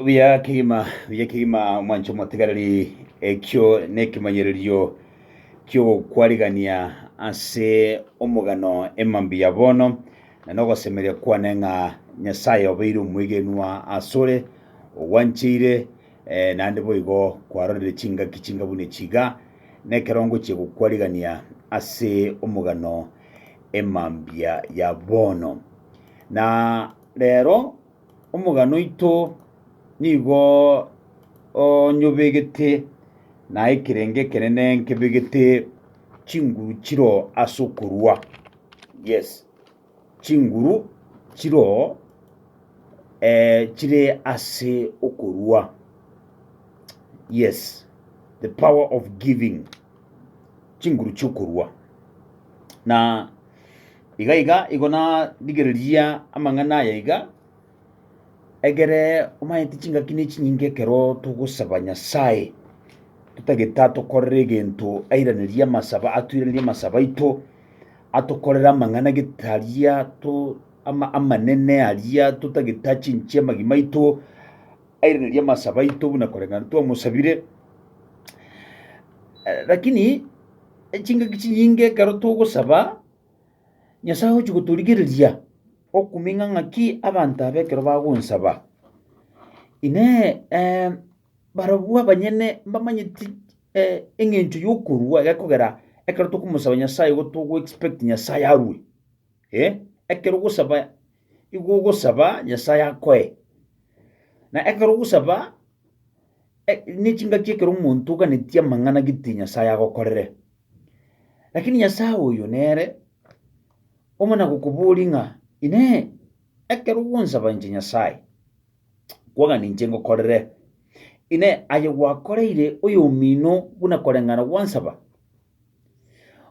Buya kegima, buya kegima mwancho motigareri ekio nekemanyererio ki'ogokwarigania ase omogano emambia ya bono, na nogosemeria kwane ng'a Nyasaye obeire omwegenwa asore, ogwancheire, eh, naende boigo kwarorire chingaki chingabuni chiga, nekero ngochia gokwarigania ase omogano emambia ya bono. Na rero omogano oito nigo onyobegete na ekerengo ekenene nkebegete chinguru chiro ase okorua. Yes, chinguru chiro eh, chire ase okorua. Yes, the power of giving. chinguru chi'okorua. Na iga iga igo narigereria amang'ana aya iga, egere omanyete chingaki ne chinyinga ekero togosaba Nyasae, totagete atokorere egento airanerie amasaba, atoiranerie amasaba aito, atokorere amang'ana gete aria to ama- amanene aria totagete achinchie amagima aito, Airanerie amasaaba aito buna koreng'ana twamosabire. Lakini chingaki chinyinge ekero togosaba, Nyasae agochia gotorigereria okuming'a ng'aki abanto aba ekero bagonsaba. Inee! Barabwo abanyene mbamanyeti eng'encho y'okorua gekogera ekero tokomosaba Nyasae igo togoexpect Nyasae arue? Ekero ogosaba. Igwa ogosaba Nyasae akoe. Na ekero ogosaba e- nechingaki ekero omonto oganetie amang'ana gete Nyasae agokorere. Lakini Nyasae oyo nere omana gokoboria ng'a inee, ekero ogonsaba inche Nyasae, kwagani inche ngokorere? Inee, aye gwakoreire oyomino buna koreng'ana gwansaba?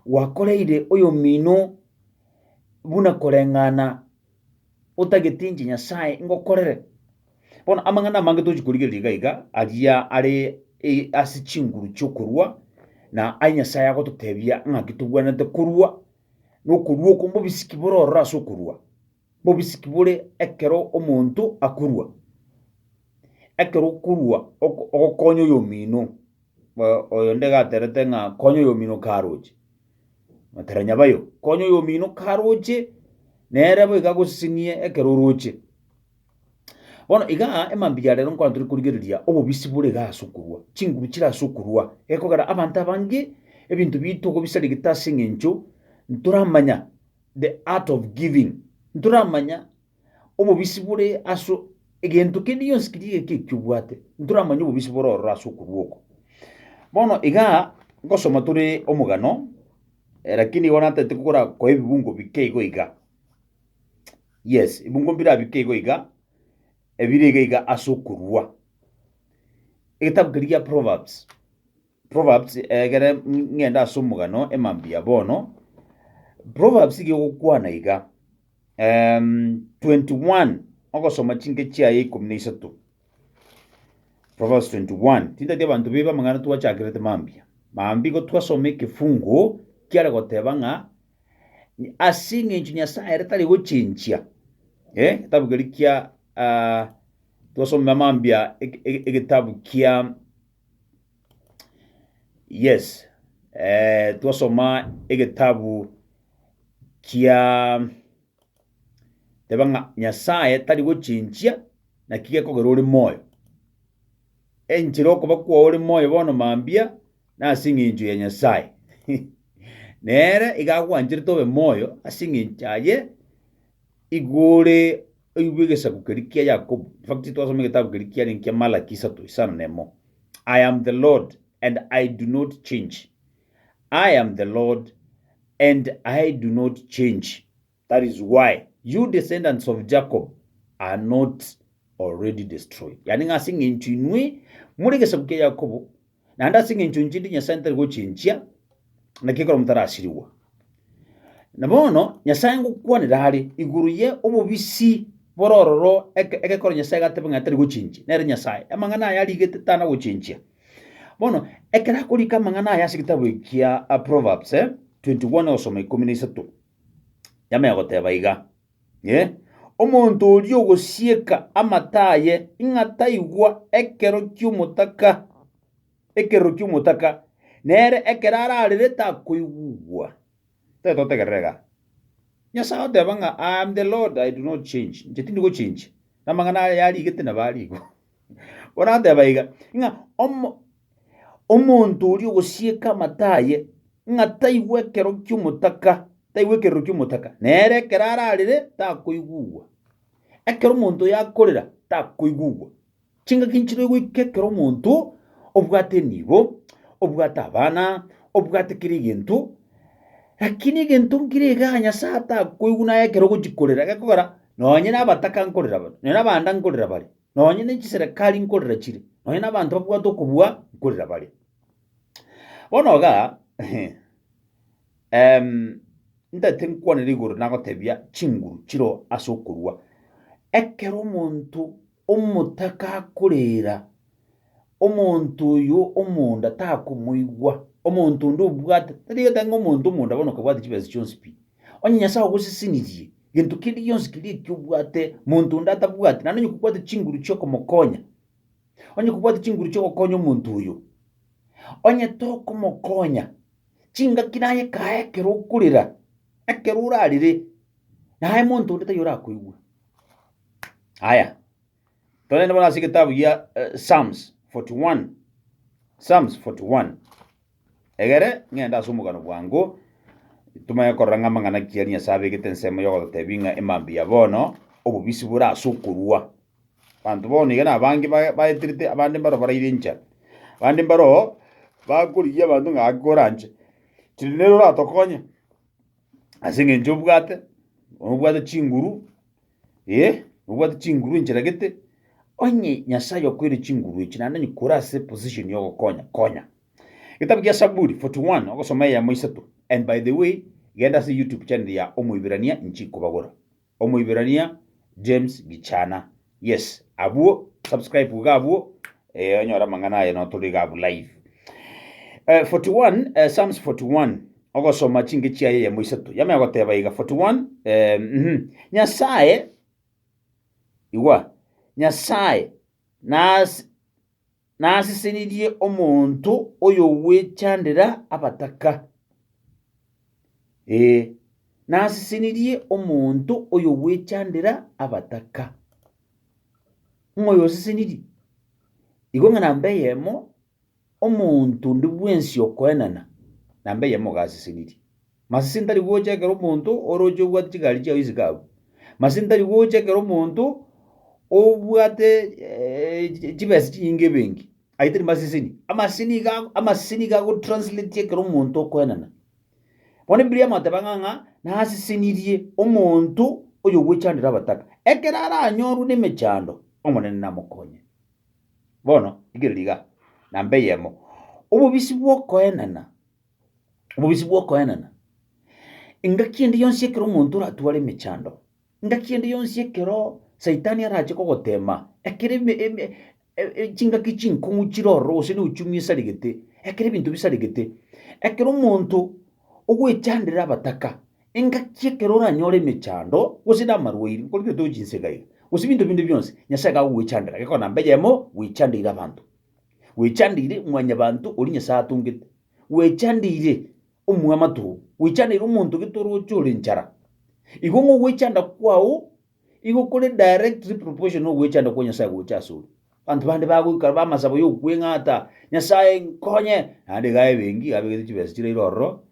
Gwakoreire oyomino buna koreng'ana otageti inche Nyasae ngokorere. Bono amang'ana amange tochi korigereria iga iga, aria are e- ase chinguru chi'okorua, na aye Nyasae agototebia ng'aki tobwenerete korua, na okorua oko mbobisiki bore ororo ase okorua, mbobisiki bore ekero omonto akorua. Ekero okorua oko- ogokonya oyomino, oyo nde gaterete ng'a konya oyomino karoche. Mataranya bayo, konya oyomino karoche, nere boigo agosesenie ekero oroche. Bono iga emambia ya rero nkwana tore korigereria obobisi bore iga ase okorua, chinguru chire ase okorua, egekogera abanto abange ebinto bito kobisarigete ase eng'encho ntoramanya the art of giving, ntoramanya obobisi bore ase egento kende gionsi keria egeke ekio obwate, ntoramanye obobisi bore ororo ase okorua oko. Bono igaa, ngosoma tore omogano, eh, lakini igo natete kogora koa ebibungo bike igo iga. Yes, ebibungo mbira bike igo iga, ebire iga iga ase okorua. Egetabu keria gia Proverbs. Proverbs egere ng'ende ase omogano emambi ya bono Proverbs iga egokwana iga um, 21 ogosoma chinke chiaye ikomi na isato Proverbs 21 tintati abanto bebe amang'ana twachakerete mambia mambi go twasoma ekefungo kiare goteba ng'a ase eng'encho nyasaye ere tari gochenchia eh, getabu keri kia ah, twasoma mambia ege- ege- egetabu kia Yes, eh, twasoma egetabu kia teba ng'a Nyasaye tari gochinchia naki gekogera ore moyo. Enchera okoba kwao ore moyo bono mambia nase eng'encho ya Nyasaye. Nere iga agwancherete obe moyo ase eng'encho aye Igure oigwe egesaku keria kia Yakobo. In fact, twasoma egetabu keria kiarenge kia Malaki isato isano na emo. I am the Lord, and I do not change. I am the Lord, and I do not change. That is why you descendants of Jacob are not already destroyed. Yani ng'ase eng'encho inwe more egesaku kia Yakobo Naende ase engencho nchindi Nyasae ntari gochinchia, naki ekero motarasirigwa. Na bono Nyasae ngokwanera are igoro ye obobisi bore ororo eke- egekoro Nyasae gateba ng'a tari gochinchia, nere Nyasae. Amang'ana aya arigete tana gochinchia. Bono, ekero akorika amang'ana aya ase egitabu eki kia a Proverbs, eh, 21 ogosoma ikomi na isato, yamanya goteba iga, Inee! Omonto oria ogosieka amato aye ng'a taigwa ekero ki'omotaka, ekerero ki'omotaka, nere ekero ararere takoigwa? Tari totegerera iga? Nyasae oteba ng'a I am the Lord, I do not change, inche tindi gochenchia, na amang'ana aya yarigete nabo arigwe. Orateba iga, ng'a omo omonto oria ogosieka amato aye, ng'a taigwa ekero ki'omotaka, taigwa ekerero ki'omotaka, nere ekero ararire takoigugwa, ekero omonto oyo akorera takoigugwa. Chingaki nchiroe goika ekero omonto obwate enibo, obwate abana, obwate kera egento, lakini egento nkire iga Nyasae atakoigwa naye ekero ogochia korera, gekogera nonye nabataka nkorera bare, nonye nabanda nkorera bare. Nonye ne chiserekari nkorera chire, nonye nabanto babwate okobua nkorera bare. Bono iga em, ntaete nkwanere igoro nagotebia chinguru chiro ase okorua. Ekero omonto omotaka akorera omonto oyo omonda takomoigwa, omonto onde obwate, tari egento ang'e omonto omonda bono okabwate chibesa chionsi pi, onye Nyasae ogosesenirie, gento keria gionsi keria ekio obwate, monto onde atabwati, naende onye kobwate chinguru chiokomokonya, onye kobwate chinguru chiogokonya omonto oyo, onye tokomokonya, chingaki naye ekae ekero okorera, ekero orarire, naye monto onde taiyo orakoigwe. Aya. Togende bono ase egetabu gia eh, Psalms 41. Psalms 41. Egere ng'ende ase omogano bwango tumanye korora ng'a amang'ana ki ari Nyasae abegete ensemo y'ogototebi ng'a emambia ya bono obobisi bore ase okorua. Banto bono iga nabange ba- baeterete abande mbaro baraire encha. Abande mbaro bakorigia abanto ng'a ake oranche. Chiri nere oratokonye. ase eng'encho obwate, nobwate chinguru, eh, nobwate chinguru enchera gete, onye Nyasae okoeire chinguru echi, naende onye kore ase position ya ogokonya, konya. Egetabu kia Saburi 41, ogosoma eyemo isato, and by the way, genda ase YouTube channel ya Omoiberania inche inkobagora. Omoiberania James Gichana. Yes abwo subscribe iga abwo eh, onyore amang'ana aye notorire iga abwo live. Eh, 41 eh, Psalms 41 ogosoma chinge chiaye yemo isato yame agoteba iga 41 eh, mhm. Nyasaye igwa Nyasaye nas Nasesenirie omonto oyogwechandera abataka, ee, nasesenirie omonto oyogwechandera abataka. Ng'o oyosesenirie? Igo ng'a namba eyemo omonto onde bwensi okoenana, namba eyemo gasesenirie. Masese tari gocha ekero omonto oroche obwate chigari chiao isiko agwo. Masese tari gocha ekero omonto obwate chibesa chinyinge ebenki. Ayio tari maseseni. Amaseseni nigo ago- amaseseni nigo agotranslatia ekero omonto okoenana. Bono ebibilia yamateba ng'a ng'a nasesenirie omonto oyogwechandera abataka. Ekero aranyorwe nemechando, Omonene namokonye. Bono rigereria igaa, namba eyemo, obobisi bwokoenana. Obobisi bw'okoenena. Engaki ende yonsi ekero omonto oratware emechando, engaki ende yonsi ekero Saitani arache kogoteema, ekero eme- eme- e- e- chingaki chinkong'u chire ororo gose na ochumi esaregete, ekero ebinto bisaregete, ekero omonto ogwechandera abataka, engaki ekero oranyore emechando gose na amarwaire, nkorwa gete ochinsega iga, gose ebinto binde bionsi, Nyasaye iga agogwechandera, gekogera namba eyemo gwechandeire abanto. Gwechandeire mwanyabanto oria Nyasae atongete, gwechandeire omwamato oo, gwechandeire omonto gete orooche ore enchara. Igo ng'a ogwechanda kwao igo kore directly proportion na ogwechanda kwa Nyasae gocha asore. Abanto bande bagoikara b'amasabo y'okweng'ata, Nyasae nkonye, naende iga abe enki, iga abegete chibesa chiraire ororo,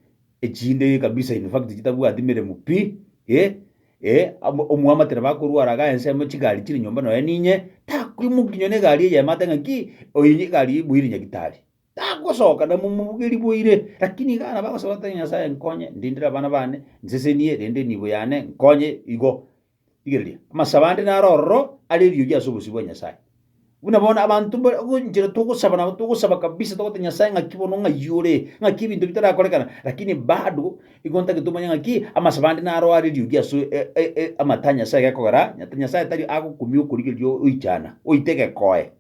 Echinde kabisa in fact chitabwati meremo pi e e amo omoamatere bakorwara ga ensemo chigari chiri nyomba noe ninye takoimoki nyone egari eye emate ng'a ki oyo nye egari iboire nyagitari tagosoka na momobuge riboire lakini iga nabo agosaba ate Nyasaye nkonye ndindere abana bane nsesenie rende enibo yane nkonye igo Rigereria, amasabo ande naro ororo are eriogi ase obosio bwa Nyasae. Buna bono abanto mba- go- enchera togosaba nabo togosaba kabisa togoteba Nyasae ng'aki bono ng'ai ore, ng'aki ebinto bitarakorekana, lakini bado igo ntagete omanye ng'aki amasabo ande naro are eriogi ase e- e- e- amata a Nyasae gekogera ata Nyasae tari agokumia okorigereria oichana, oite egekoe.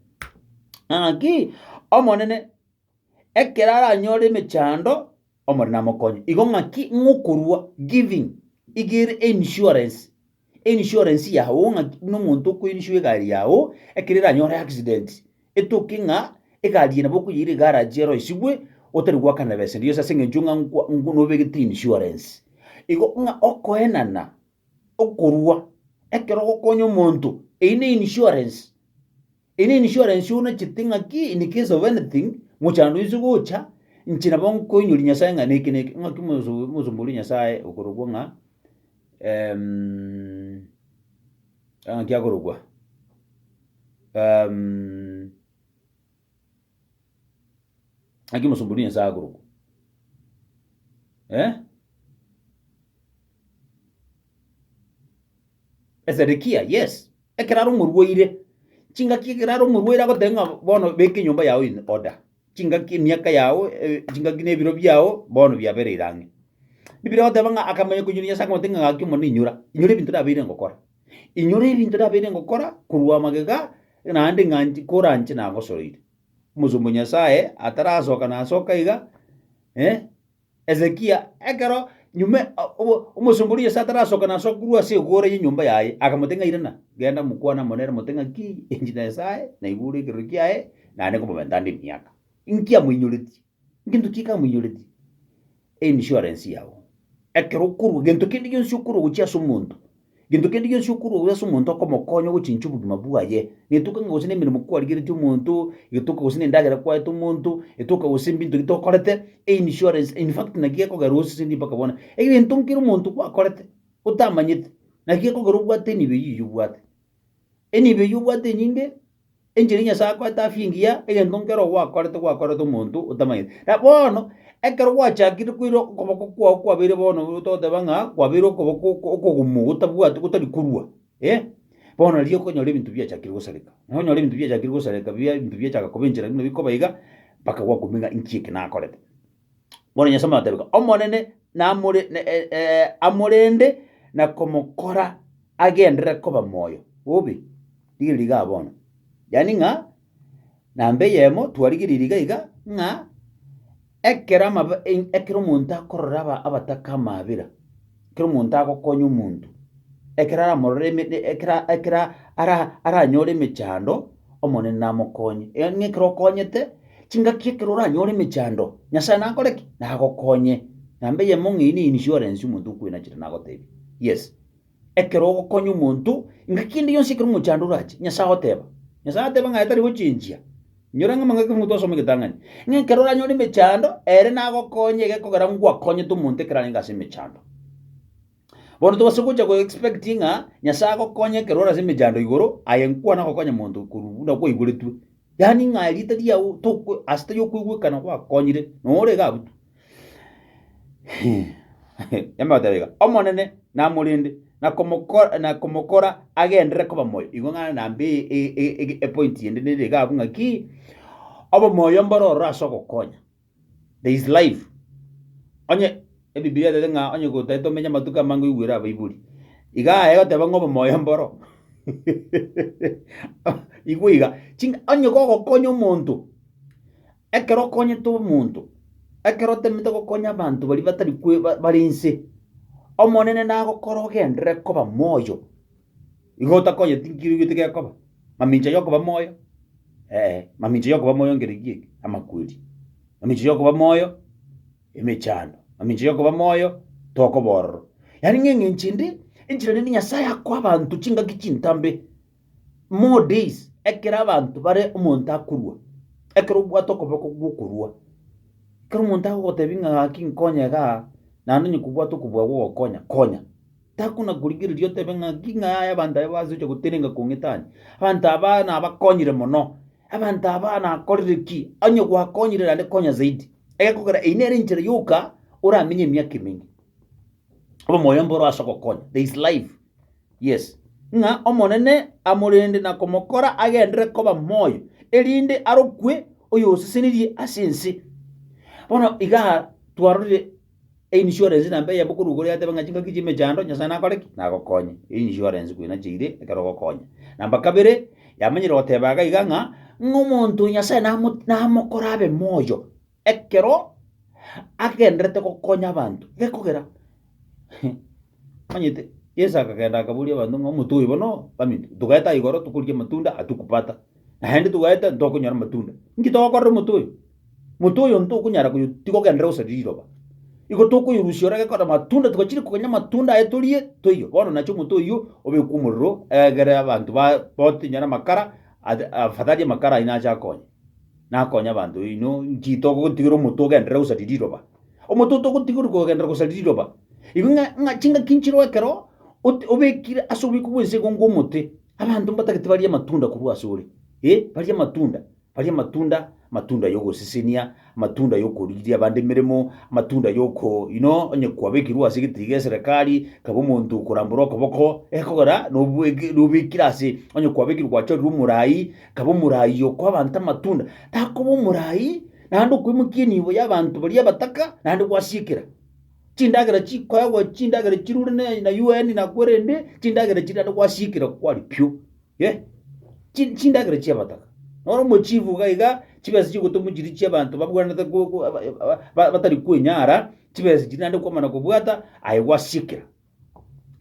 Ng'a ng'aki, Omonene. Ekero aranyore emechando, Omorembe namokonye. Igo ng'aki ng'okorua giving iga ere einsurance, einsurance yao ng'aki buna omonto okoinsure egari yao ekero eranyore accident, etoke ng'a egari eye nabo okoyeira egarage eroisigwe otari goakana na besa engiya gose ase eng'encho ng'a nkwa nobegete insurance. Igo ng'a okoenana. okorua ekero ogokonya omonto, eyio ne insurance. Eyio ne insurance onachete ng'aki in case of anything, mochando oise gocha, inche nabo nkoinyori Nyasae ng'a neke neke, ng'aki omoso- omosomba oria o Nyasae okorokwa ng'a ng'aki akorokwa Naki mosomba oria ense agorokwa? Eh? Ezedekia, yes. Ekero are omorwaire, chingaki ekero are omorwaire agoteba ng'a bono beka enyomba yao in order. Chingaki emiaka yao, eh, chingaki na ebiro biao bono biabereire ang'e. Biblia egoteba ng'a akamanya koinyora Nyasae akamotebia ng'a gaki Omonene inyora, inyora ebinto nabeire ngokora. Inyora ebinto nabeire ngokora korwa amagega, naende ng'a nchi- koranche nagosoroire. Omosomba o Nyasaye atarasoka nasoka iga, eh, Hezekia ekero nyuma o- obo- omosomba oria o Nyasaye atarasoka nasoka korwa ase egoora y'enyomba yaye, akamotebia ng'a irana, genda mokwane amo nere mote ng'a ki inche Nyasae naigure ekerorio kiaye, naende nkomomenta ande emiaka. Inki amoinyoretie? Ngento ki kamoinyoreti einsurance yao? Ekero okorwa gento kende gionsi okorwa gochia ase omonto, gento kende gionsi okorwa gochia ase omonto okomokonya ogochinchia obogima bwaye, netoka ng'a gose nemeremo kwarigeretie omonto, getoka gose nendagera kwaete omonto, getoka gose mbinto bi tokorete, einsurance in fact naki gekogera osesendie mpaka bono, egento nkere omonto gwakorete otamanyete, naki gekogera obwate enibo eyio obwate. Enibo eyio obwate enyinge. Enchera Nyasae akoete afia engiya, egento nkero gwakorete gwakorete omonto otamanyete. Na bono, ekero gwachakire koira okoboko kwao kwabeire bono togoteba ng'a kwabeire okoboko oko okogumu gotabwati gotari korua, eh, bono nari okonyora ebinto biachakire gosareka. Nonyora ebinto biachakire gosareka bia ebinto biachaka koba enchera buna bikoba iga, mpaka gwakobua ng'a inki eke nakorete. Bono Nyasae amatebeka, Omonene namore ne- e- e- amorende na komokora agenderere koba moyo bobe. Rigereria igaa bono. Yaani ng'a namba eyemo twarigereiri iga iga ng'a ekero amabe- e- ekero omonto akorora aba- abataka amaabera, Ekero omonto agokonya omonto, ekero aramorore ime e- ekero ekero ara aranyore emechando, Omonene namokonye. Eee, ng'a ekero okonyete chingaki ekero oranyore emechando, Nyasae nakore ki? Nagokonye. Namba eyemo ng'a eyio ne insurance omonto okwenachera nagotebia. Yes, ekero ogokonya omonto, ngaki ende yonsi ekero omochando orache, Nyasae agoteba, Nyasae ateba ng'a aye tari gochenjia. Inyora ng'ama ng'ake omonto asome egetang'ani, ng'a ekero oranyore emechando, ere nagokonye egekogera ngwakonyete omonto ekero arenge ase emechando. Bono tobase gocha goexpect ng'a Nyasae agokonye ekero ore ase emechando igoro aye nkwana gokonya monto korwa buna kwaigoretwe. Yaani ng'a riita riao tokwe ase tari okoigwekana gwakonyire, noo ore iga abwo tu. Yamotebia iga, Omonene namorende, na komoko- na komokora agenderere koba moyo. Igwa ng'a naende e- e- e- e- epointi ende nere iga abwo ng'a ki, obomoyo mboro ororo ase ogokonya, there is life. Onye ebibilia etebete ng'a onye gotari tomenye amatuko amange oigwere abaibori, iga aya egoteba ng'a obomoyo mboro igwe iga, ching'a onye gogokonya omonto. Ekero okonyete omonto, ekero otemete gokonya abanto baria batari kwe bare inse, Omonene nagokore ogenderere koba moyo. Igo otakonyeti nki oigwete gekoba? Mamincha yokoba moyo? Ee, mamincha yokoba moyo ngere ki eke? Amakweri. Mamincha yokoba moyo? Emechando. Mamincha yokoba moyo? Toko bororo. Yaani ng'a eng'encho ende, enchera rende Nyasae akoa abanto chingaki chintambe. More days, ekero abanto bare omonto akorua, ekero obwate okoboko gw'okorua, ekero omonto agogotebi ng'a gaki nkonye igaa, naende onye kobwate okobua gogokonya, konya. Takona korigereria otebe ng'a ng'aki ng'a yaya abanto aba base gocha gotenenka kong'itani, abanto abaa nabakonyire mono, abanto abaa nakorire ki, onye gwakonyire naende konya zaidi, egekogera eyio nere enchera yoka oramenye emiaka emenge, obe omoyo mboro ase ogokonya, there is life. yes, ng'a Omonene amorende na komokora agendere koba moyo, erinde arokwe oyosesenirie ase ense. Bono iga twarorire einsurance na mbeya bokoruga ore atebe ng'a chingaki chi'emechando Nyasaye nakore ki? Nagokonye. Einsurance kwena cheire ekero ogokonya. Namba kabere, yamanyire goteba iga iga ng'a ng'a omonto Nyasaye namo namokora abe moyo. Ekero agenderete gokonya abanto, gekogera omanyete Yeso akagenda akaboria abanto ng'a omote oyo bono baminto, togaete aiga ororo tokorigia amatunda atukupata, naende togaete ntokonyora amatunda. Inki togokorera omote oyo? Mote oyo ntokonyara koyo tigogenderera gose riroba. Igo tokoyorusia ore gekogera amatunda tibachire konya amatunda aye torie toiyo. Bono nache omote oyio obekwe omorero egere abanto ba botinyore amakara ase afadhali amakara aino ache akonye. nakonye abanto baino, inki togotigera omoto ogenderere gosaria riroba? Omoto otogotigerwa kogenderera gosaria riroba, igo ng'a ng'a chingaki nchireo ekero ote obekire ase obiko bw'ense igo ngwo omote, abanto mbatagete barie amatunda korwa ase ore, eh, barie amatunda, barie amatunda, amatunda ya ogosesenia. amatunda y'okorigiria abande emeremo, amatunda y'oko ino onye kwabekirwe ase egetiri geserekari, kaba omonto okorambora okoboko, ekogera nobweki nobekire ase onye kwabekirwe gwachorirwe omorai, kaba omorai okoa abanto amatunda, takoba omorai naende okwemokia enibo y'abanto baria abataka naende gwasiekera. Chindagera chikoegwa chindagera chirure ne na UN na korende chindagera chiria naende gwasiekera kwarikia oo. Yee, chi- chindagera chi'abataka. Bono mwe chibuga iga chibesa chi'ogotwa mochiri chi'abanto babwanete ko- ko- aba- aba- ba- batari kwenyara, chibesa chiri naende kwamana kobwata, aye gwasiekera.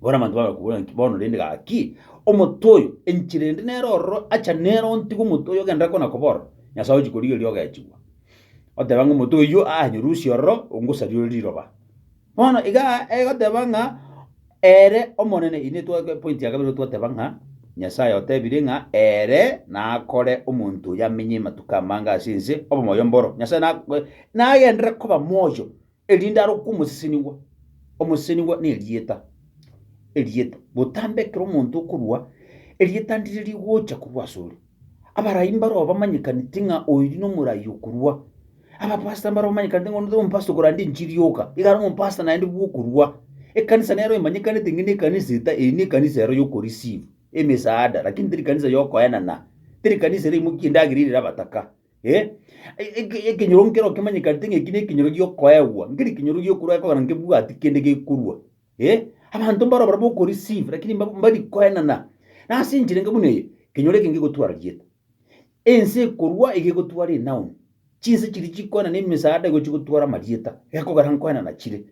Bono abanto bagakobora ng'a ki, bono rende gaki, omonto oyo, enchera ende nere ororo, acha nere ontigwe omonto oyo ogenderere kona koba ororo, Nyasae ochi korigereria ogechigwa. Oteba ng'a omonto oyio aanyerusia ororo, ongosaria ore riroba. Bono iga egoteba ng'a ere Omonene, inwe twa- point ya kabere twateba ng'a Nyasaye otebire ng'a ere nakore omonto oyo amenye amatuko amange ase ense obomoyo mboro. Nyasae na- e- nagenderere koba moyo erinde arokwe omosesenigwa. Omosesenigwa na erieta, erieta. Botambe ekero omonto okorua, erieta ndire rigocha korwa asore. Abarai mbaroo bamanyekaneti ng'a oiri nomorai okorua. Abapastor mbaroo bamanyekaneti ng'a ondo omopastor okorande enchiri yoka, igare omopastor naende bwokorua. Ekanisa nero emanyekanete ng'a eye nekanisa eta, eye nekanisa ero yoku receive emesaada, lakini teri kanisa yokoenana, teri kanisa ere emokia endagera ere abataka eh. Eke- ekenyoro nkero kemanyekanete ng'a eki nekenyoro giokoegwa, nkeri ekenyoro giokorua ekogera nkebwati kende gekorua. Ee, abanto mbarobora b'okorisiva, lakini mba- mbari koenana. Na ase enchera enke buna eye, ekenyoro eke ngegotwara rieta. Ense ekorwa iga egotwara enaoni. Chinse chiria chikoenana emesaada igo chigotwara amarieta, gekogera nkoenana chire.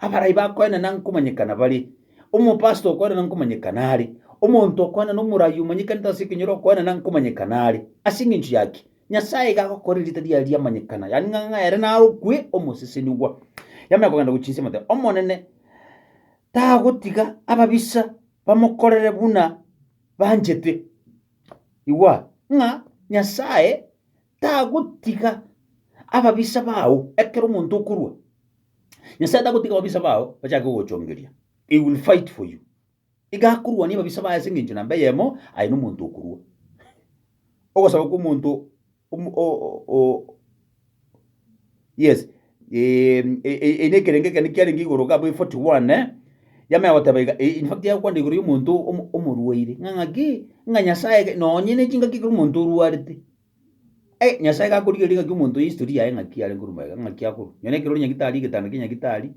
Abarai bakoenana nkomanyekana bare. Omopastor okoenana nkomanyekana are. Omonto okoenana omorai omanyekanete ase ekenyoro okoenana nkomanyekana are. Ase engencho yaki? Nyasae iga agokora erieta riaye riamanyekana, yaani ng'a ng'a ere narokwe Omosesenigwa. Yamanya kogenda gochinsia amateka. Omonene tagotiga ababisa bamokorere buna banchete. Igwa ng'a Nyasae tagotiga ababisa bao ekero omonto okorwa. Nyasae tagotiga ababisa bao bachake gogochongeria. He will fight for you. Iga akorwania ababisa baye ase engencho namba eyemo, aye nomonto okorua. Ogosaba kw'omonto yes eye nekerengo ekende kiarenge igoro gabo e 41 yamanya goteba iga, in fact yagokwana igoro y'omonto omorwaire, ng'a ng'aki, ng'a Nyasaye nonye ne chingaki ekero omonto orwarete. Hey, Nyasae gakorigereria ng'aki omonto history yaye ng'aki are nkorwa magega, ng'aki akorwa. Nonye ekero ore nyagitari, egetanda kia nyagitari,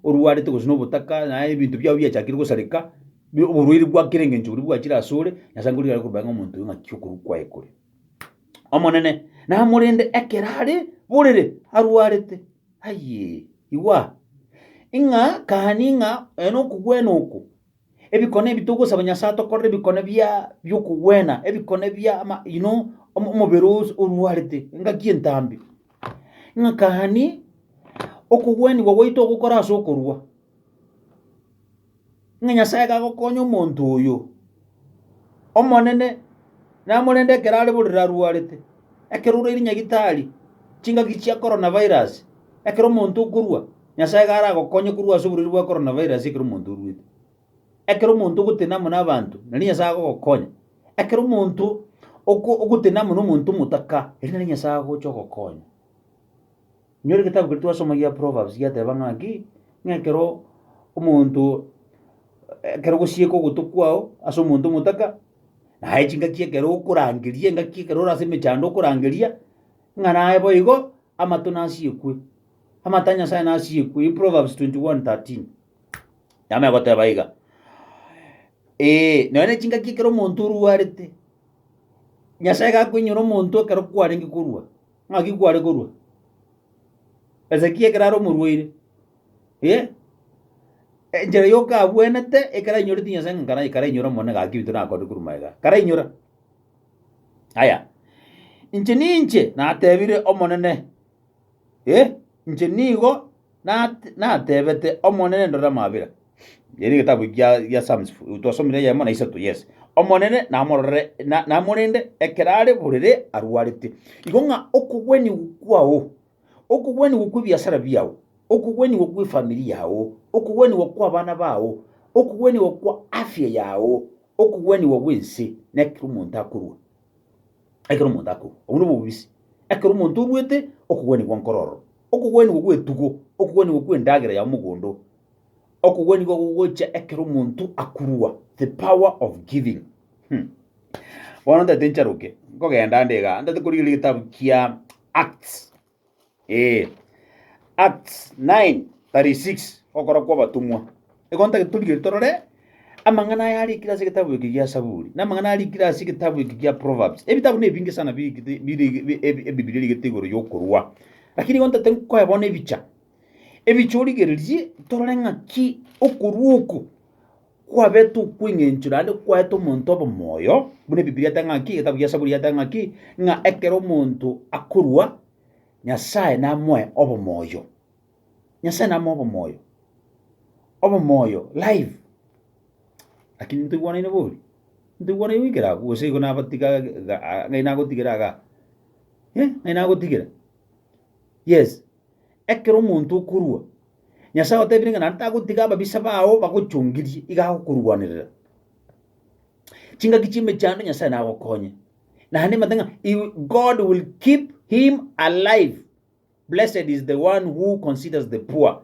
orwarete gose nobotaka, naye ebinto biao biachakire gosareka, bi- oborwaire bwa kera engencho boria bwachire asore, Nyasae nkorigereria are korwa magega ng'a omonto oyo ng'aki okorwa kwaye kore. Omonene namorende ekero are borere arwarete, aye, igwa, ng'a kani ng'a oyo nokogwena oko. Ebikone ebi togosaba Nyasae atokorere ebikone bia bi'okogwena, ebikone bia ama you know, omo- omobere os- orwarete, engaki entambe. Ng'aka gani okogwenigwa gwaito ogokora ase okorua, ng'a Nyasae iga agokonya omonto oyo, Omonene namorende ekero are borere arwarete, ekero oraire nyagitari, chingaki chia korona virus, ekero omonto okorua. Nyasae iga aragokonye korwa ase oborwaire bwa Coronavirus ekero omonto orwete. Ekero omonto ogotenena amo n'abanto, nari Nyasae agogokonya. Ekero omonto oko ogotenena amo n'omonto omotaka, erio nari Nyasae agocha ogokonya. Inyore egetabu keria twasoma gia Proverbs giateba ng'a ki, ng'a ekero omonto ekero ogosieka ogotwe kwao ase omonto omotaka, naye chingaki ekero okorangeria engaki ekero ore ase emechando okorangeria, ng'a naye boigo amato nasiekwe. Amate a Nyasae nasiekwe. In Proverbs 21:13 yama egoteba iga, ee, nonya nechingaki ekero omonto orwarete, Nyasae gakoinyora omonto ekero kwarenge korwa. Ng'aki kware korwa? Hezekia ekero are omorwaire, eh, enchera yokabwenete ekero ainyorete Nyasae ng'a nkara- karainyora omone gaki ebinto nakorire korwa magega iga. Karainyora. Aya, inche ninche natebire Omonene, Ee, inche nigo natebete Omonene, Ndora amabera. Eye negetabu gia Psalms twasomire eyemo na isato, yes. Omonene namororere, namorende ekero are borere arwarete. Igo ng'a okogwenigwa kwao, okogwenigwa kw'ebiasara biao, okogwenigwa kw'efamiri yao, okogwenigwa kw'abana bao, okogwenigwa kwa afya yao, okogwenigwa gw'ense, nekero omonto akorwa. ekero omonto akoru. Obwo nobobisi, ekero omonto oruete okogwenigwa nkoro ororo, okogwenigwa gw'etugo, okogwenigwa kw'endagera ya omogondo, okogwenigwa gogocha ekero omonto akurwa, the power of giving. Hmm. Bono ntagete ncharoke, nkogenda ande igaa, ntagete korigereria egetabu kia Acts. Ee, Acts 9:36, Ogokora kw'Abatomwa. Igo ntagete torigereria torore amang'ana aya arikire ase egetabu eke gia Saburi, na amang'ana arikire ase egetabu eke gia Proverbs. Ebitabu nebinge sana birikete biri- bi- ebi- Ebibilia erigete igoro y'okorua. Lakini igo ntagete nkoe bono ebicha, ebicha origererie torore ng'aki okorua oko Kwabetwe okweng'enchwa naende kwaete omonto obe moyo, buna Ebibilia eteba ng'aki, egetabu gia Saburi geteba ng'aki, ng'a ekero omonto akorua, Nyasae namoe obomoyo. Nyasae namoe obomoyo, obomoyo, life. Lakini ntoigwanaine bori, ntoigwanaine goikera agwo, gose igo nabatiga ga- a- ng'ai nagotigera iga, eh, ng'ai nagotigera? Yes, ekero omonto okorua, Nyasae otebirie ng'a naende tagotiga ababisa bao bagochongirie, iga agokorwanerera. Chingaki chi'emechando Nyasae nagokonye. Naende nimanyete ng'a he will- God will keep him alive. Blessed is the one who considers the poor.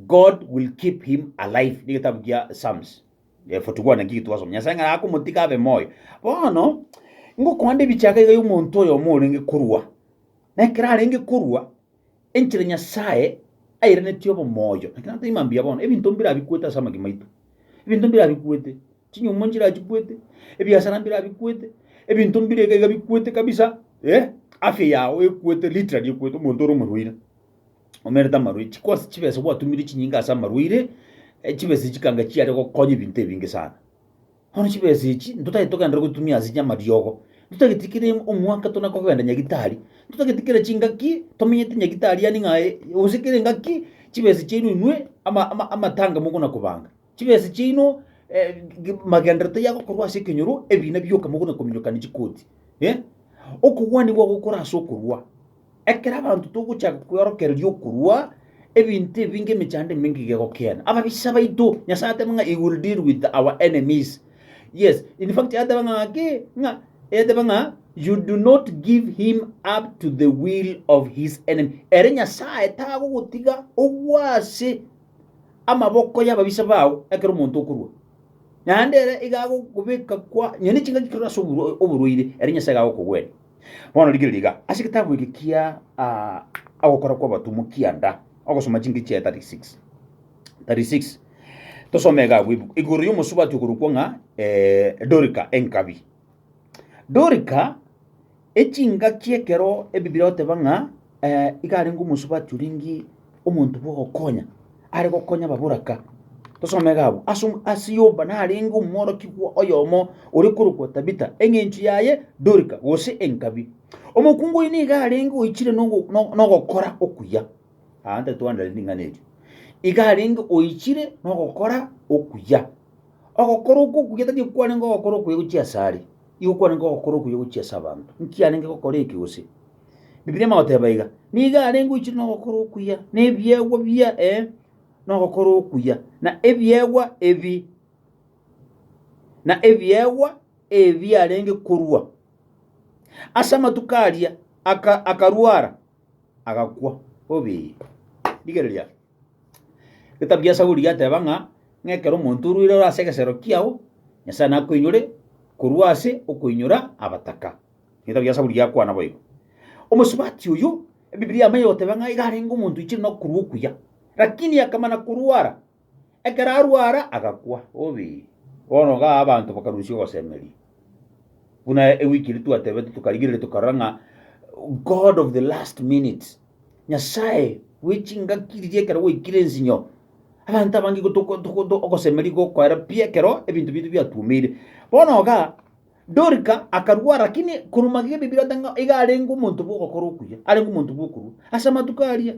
God will keep him alive. Ni gitabu kia Psalms eh, 41 naki twasoma. Nyasae ng'a akomotiga abe moyo. Bono ngokoande ebichaka iga y'omonto oyomo orenge korwa. Na ekero arenge korwa, Enchera Nyasae airanetie obomoyo, lakini ata imambia ya bono, ebinto mbirabikwete ase amagima aito. Ebinto mbirabikwete, chinyumo nchirachikwete, ebiasara mbirabikwete, ebinto mbireka iga bikwete kabisa, eh, afya yao ekwete, literally ekwete, omonto ore omorwaire, omerete amarwaire, chikosi chibese gwatumire chinyinga ase amarwaire, eh, chibese chikanga chiare gokonya ebinto ebinge sana. Bono chibesa echi ntotagete togenderere gotumia ase chi'amariogo, ntotageti kere omwaka tona kogenda nyagitari, ntotageti kera chingaki tomenyete nyagitari yaani ng'a eh, gose kera engaki chibesa chiaino inwe ama ama amatanga mogona kobanga. Chibesa chiaino magenderero taiyo agokorwa ase ekenyoro, ebina bioka mogona kominyokania chikoti, eh, okogwania gwagokora ase okorua. Ekero abanto togochaka kweorokereria okorua, ebinto ebi ngemechando emenge gegokiena. Ababisa baito, Nyasae ateba ng'a he will deal with our enemies. Yes, in fact yateba ng'a ki? Ng'a yateba ng'a you do not give him up to the will of his enemy. Ere Nyasae tagogotiga ogwe ase amaboko y'ababisa bao ekero omonto okorua. Naende ere iga agokobeka kwa nyonia chingaki kerore ase oborwaire, ere Nyasae iga agokogwenia. Bono rigereria iga, ase egetabu eke kia ah, ogokora kw'abatomwa kianda, ogosoma chinke chia 36 36 tosome iga abwo ibu- igoro y'omosubati okorokwa ng'a eh, Dorika enkabi. Dorika echingaki ekero Ebibiri egoteba ng'a Eh, iga arenge omosubati oringi omonto bw'ogokonya, are gokonya ababoraka. Tosome iga abwo. Ase om- ase Yopa narenge omworokigwa oyomo ore korokwa Tabita, eng'encho yaye Dorika, gose Enkabi. Omokungu oino iga arenge oichire nogo- no- nogokora okuya. Aa, nta twandare ring'ana erio. Iga arenge oichire nogokora okuya. Ogokora okwo okuya tari okwarenge ogokora okuya gochia ase are, igo kwarenge ogokora okuya gochia ase abanto. Inki arenge gokora eke gose? Bibilia ime goteba iga, Nigo are ngoichire nogokora okuya, na ebiegwa bia, ee, nogokora okuya, na ebiegwa ebi, na ebiegwa ebi biarenge korua ase amatuko aria, aka, akarwara, agakwa. Obe! Rigereria. Getabu gia Zaburi giateba ng'a, ng'a ekero omonto orwaire ore ase egesero kiao, Nyasae nakoinyore korwa ase okoinyora abataka. Egetabu gia Saburi giakwana boigo, Omosubati oyo, Ebibilia yamanya goteba ng'a iga arenge omonto oichire na okorua okuya, lakini akamana korwara. Ekero arwara agakwa, obi, bono iga abanto bakarusia ogosemeria. Buna ewiki eria twatebete tokarigereria tokarora ng'a God of the last minute, Nyasae bwe chingaki riria ekero gwaikire ensinyo, abanto abange igo toko- toko- to- ogosemeria gokoera pi ekero ebinto biaito biatuomeire. Bono iga Dorika akarwara, lakini korwa magega Ebibiri oteba ng'a iga arenge omonto bw'ogokora okuya, arenge omonto bw'okorua. Ase amatuko aria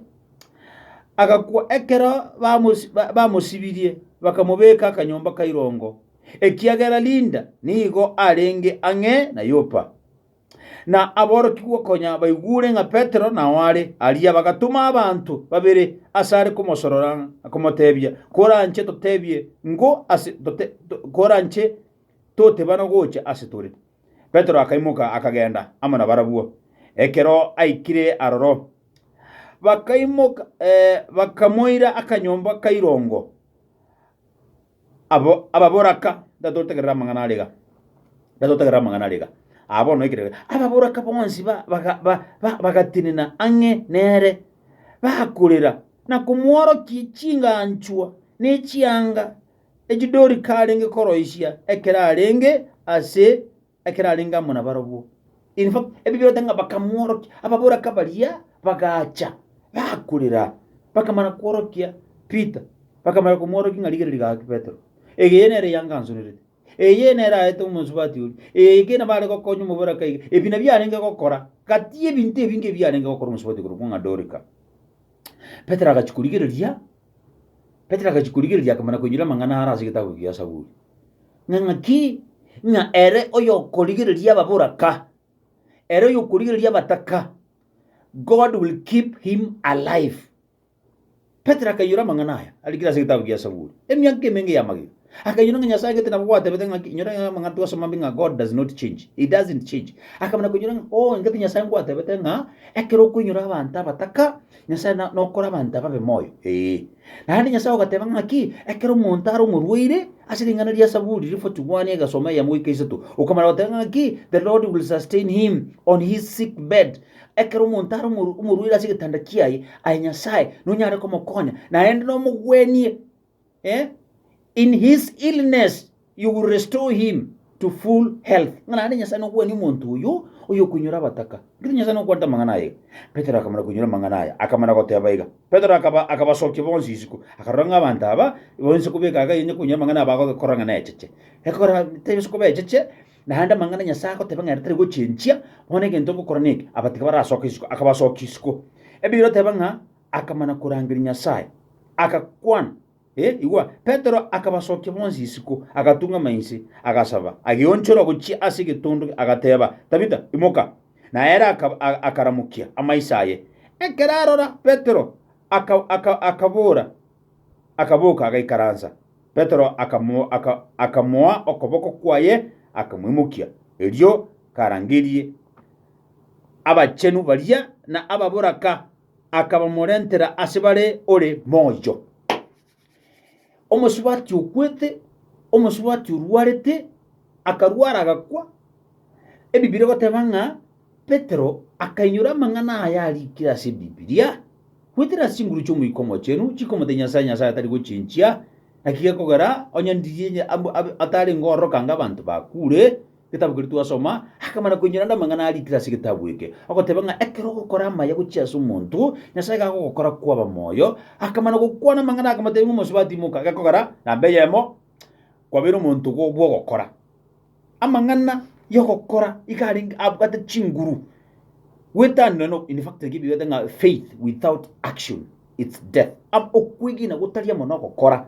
agakwa ekero bamosi- ba- bamosibirie, bakamobeka akanyomba ka irongo, ekiagera Linda nigo arenge ang'e na Yopa. Na aborokigwa konya baigure ng'a Petero nao are aria, bagatoma abanto babere asare komosorora, komotebia, Koranche totebie ng'o ase tote- to- koranche toteba nogocha ase tore. Petero akaimoka, akagenda amo nabarabwo. Ekero aikire aroro, bakaimoka, bakamoira akanyomba ka irongo. Abo ababoraka, ndatotegerera amang'ana are iga, ndatotegerera amang'ana are iga, aa bono ekere, ababoraka bonsi ba- baga- ba- ba- bagatenena ang'e nere, bakorera, na komworokia chinganchwa ne chianga Echidori karenge koroisia ekero arenge ase ekero arenge amo nabarobwo. In fact, Ebibero taiga ng'a bakamworokia, ababoraka baria bagacha bakorera, bakamana kworokia Peter, bakamana komworokia ng'a rigereria gaki Petero, eyeye nere yangansonerete, eyeye nere aete omosubati oria, eyeye kena bare gokonya omoboraka iga, ebi nabio arenge gokora. Gati ebinto ebinge ebiarenge gokora omosubati korokwo ng'a Dorika. Petero agachia korigereria. Petero agachia korigereria, akamana koinyora amang'ana are ase egetabu kia Zaburi, ng'a ng'aki? Ng'a ere oyokorigereria ababoraka, ere oyokorigereria abataka, God will keep him alive. Petero akainyora amang'ana aya arikire ase egetabu kia Zaburi emiaka emenge y'amagena. Akanyora ng'a Nyasae gete nabo gwatebete ng'aki, inyora ng'a amang'ana twasoma mbe ng'a God does not change, he doesn't change. Akamana konyora ng'a oh, engaki Nyasae ngwatebete ng'a ekero okoinyora abanto abataka, Nyasae na- nokora abanto ababe moyo, ee. Naende Nyasae ogateba ng'aki, ekero omonto are omorwaire, ase ring'ana ria Zaburi ri 41 egesoma eyemo goika isato, okamana goteba ng'aki, the Lord will sustain him on his sick bed, ekero omonto are omoru- omorwaire ase egetanda kiaye, aye Nyasae nonyare komokonya, naende nomogwenie. In his illness you will restore him to full health. Ng'a naende Nyasae nokwania omonto oyo oyokoinyora abataka. Nkitu Nyasae nokwanete amang'ana aye iga. Petero akamana koinyora amang'ana aya, akamana goteba iga. Petero akaba akabasokia bonsi isiko, akarora ng'a abanto aba bonsi kobeka iga yenya koinyora amang'ana aba agokora ng'a necheche. Ekora tebisa koba echeche, naende amang'ana Nyasae agoteba ng'a ere tari gochenchia, bono egento ngokora neke, abatiga barasoke isiko, akabasokia isiko. Ebiiri oteba ng'a. akamana korangeria Nyasae, agakwana. Eh, igwa, Petero akabasokia bonsi isiko, agatung'ama inse, agasaba, ageonchora gochia ase egetondo, agateba, Tabita, imoka. Na ere aka- a- akaramokia amaiso aye. Ekero arora Petero, aka- aka- akabora, akaboka, agaikaransa. Petero akamo- aka- akamoa okoboko kwaye, akamoimokia. Erio karangerie abachenu baria na ababoraka. akabamorentera ase bare ore moyo, omosubati okwete, omosubati orwarete, akarwara agakwa. Ebibiri egoteba ng'a Petero akainyora amang'ana aya arikire ase Bibilia, Goetera chinguru chi'Omoika Omochenu chikomotebia Nyasae, Nyasae atari gochinchia, naki gekogera onye ndirie onye ab- ab- atarenge ororo kanga abanto bakure, Getabu keria twasoma, akamana koinyora ande amang'ana arikire ase getabu eke, agoteba ng'a ekero ogokora amaya gochia ase omonto, Nyasae iga agogokora kwaba moyo. Akamana gokwana amang'ana akamotebia ng'a omosubati imoka, gekogera, namba eyemo kwabeire omonto bwo- bw'ogokora. Amang'ana y'ogokora iga arenge abwate chinguru. Gwetanire no in fact ekio ebigoeta ng'a faith without action it's death. Am- okwegena gotari amo nogokora.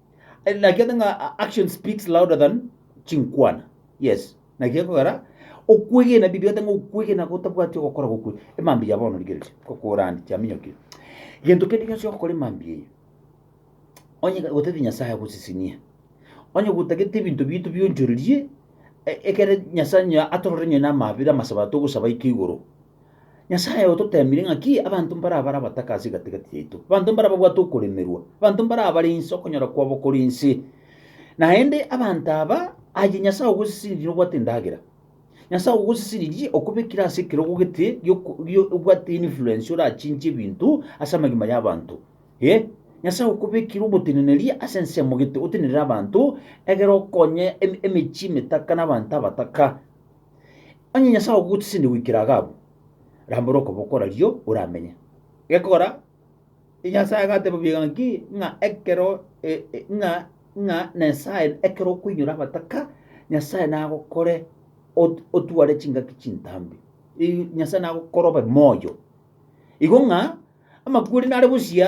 Eh, naki ate ng'a a- action speaks louder than chinkwana yes naki ekogera okwegena bibi ate ng'a okwegena gotabwati ogokora gokwe emambi ya bono rigereria kokorandi chiaminyokire gento kende gionsi ogokora emambi eye onye gotati nyasaye agosisinie onye gotagete ebinto bito bionchorerie e- ekere nyasaye onye atorore onye na amabera amasaba togosaba ike igoro Nyasae ototeemire ng'aki abanto mbarabare abataka ase egati-gati yaito, abanto mbarababwate okoremerwa, abanto mbarabare inse okonyora kwabo kore inse. Naende abanto aba, aye Nyasae ogosesenirie nobwate endagera. Nyasae ogosesenirie okobekire ase ekerogo gete gi'oko- gi- obwate influence orachinche ebinto ase amagima y'abanto. Eh, Nyasae okobekire oboteneneri ase ensemo gete otenerere abanto, egere okonye em- emechie emetaka na abanto abataka. Onye Nyasae ogogotisende goikera iga abwo, rambora okoboko orario oramenye. Gekora, Nyasae agateba buya ng'aki, ng'a ekero e- e- ng'a ng'a Nyasae ekero okoinyora abataka, Nyasae nagokore ot- otware chingaki chintambe. Ii- Nyasae nagokore obe moyo. Igo ng'a amakweri nare bosio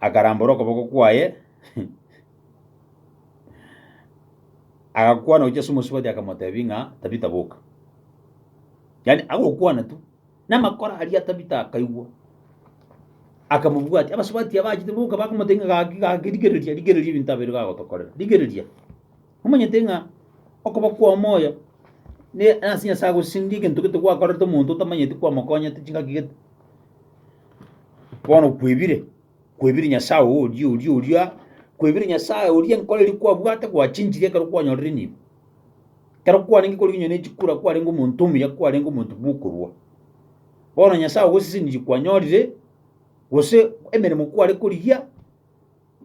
akarambora okoboko kwaye, agakwana gochia ase omosubati akamotebia ng'a Tabita boka. Yaani agokwana tu, namakoro aria Tabita akaigwa, akamobwatia. Abasubati abachete boka bakamotebia ng'a gaki gaki rigereria, rigereria ebinto aba bire gagotokorera, rigereria. Nomanyete ng'a okoba kw'omoyo ne ase Nyasaye agosinge egento gete gwakorete omonto otamanyeti kwamokonyete chingaki gete. Bono kwebire, kwebire Nyasaye oo oria oria oria, kwebire Nyasaye oria enkoro eria kwabwate gwachinchire ekero kwanyorire nibo. Ekero kwarenge korigenywa ne chikura kwarenge omonto omuya kwarenge omonto bw'okorua. Bono Nyasaye ogosesenirie kwanyorire, gose emeremo kware korigia.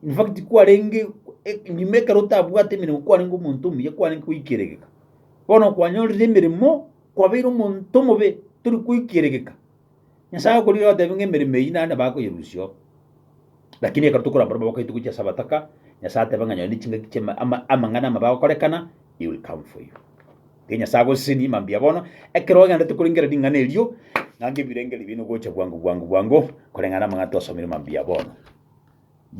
In fact, kwarenge e- nyuma ekero otabwate emeremo kwarenge omonto omuya, kwarenge goikeregeka. Bono kwanyorire emeremo, kwabeire omonto omobe, tori goikeregeka. Nyasae agokorigia agotebi ng'a emeremo eyio naende bakoyerusia oo. Lakini ekero tokorora barabwo abagaito gochia ase abataka, Nyasae ateba ng'a nonye chingaki chiama ama- amang'ana amaba agokorekana, he will come for you. Gaki Nyasae agosesenie mambia bono, ekero ogenderete korengera ring'ana erio, ng'a ngebirenge ribe nogocha bwango bwango bwango, koreng'ana na amang'ana twasomire mambia bono. Ye.